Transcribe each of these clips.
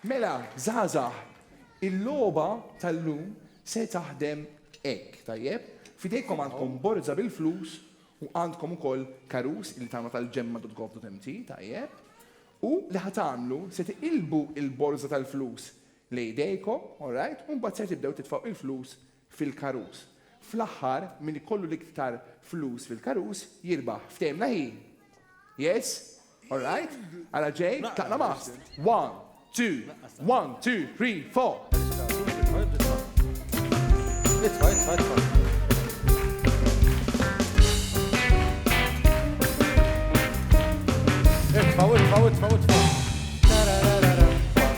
Mela żgħażagħ, il-logħba tal-lum se taħdem hekk, tajjeb? F'idejkom għandkom borża bil-flus u għandkom ukoll karus li tagħna tal-gemma dot gov dot mt, tajjeb? U li ħa tagħmlu, se tiqilbu l-borża tal-flus lejn idejkom, alright, u mbagħad ser tibdew titfgħu l-flus fil-karus. Fl-aħħar, min ikollu l-iktar flus fil-karus, jirbaħ. Ftehimna hi? Yes? All right? Ara ġej, tlaqna mast. One, two, one, two, three, four. Itfa', itfa', itfa'. Itfa', itfa', itfa', itfa'.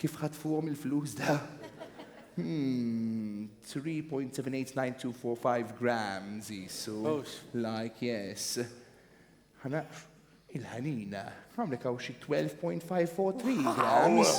Kif ħatfuhom il-flus da? Hmm, 3.789245 grams jisu. Like, yes. Ħana, il-ħanina, għamlek għaw xie 12.543 grams.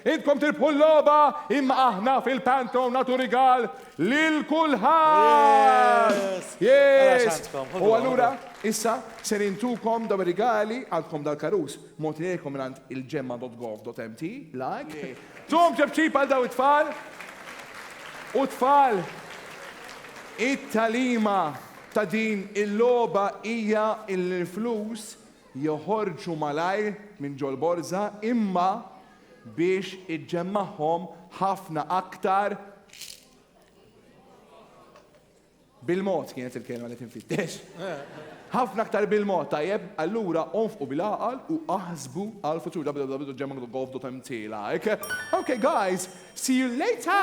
Intkom tirbħu l-loba imma aħna fil-pantom natu rigal lil kulħadd. Yes! U allura issa ser intukom daw rigali għandkom dal-karus. Mogħti lejlkom mingħand il-gemma.gov.mt, like. Tum ċebċib għal dawn it-tfal u t-tfal! It-tagħlima ta' din il-logħba hija li l-flus joħorġu malajr minn ġol-borża imma biex iġġemmagħhom ħafna aktar Bil-mod kienet il-kelma li qed infittex. Ħafna aktar bil-mod, tajjeb? Allura onfqu bil-għaqal u aħsbu għall-futur www.gemmagogof.mtlike Ok guys, see you later!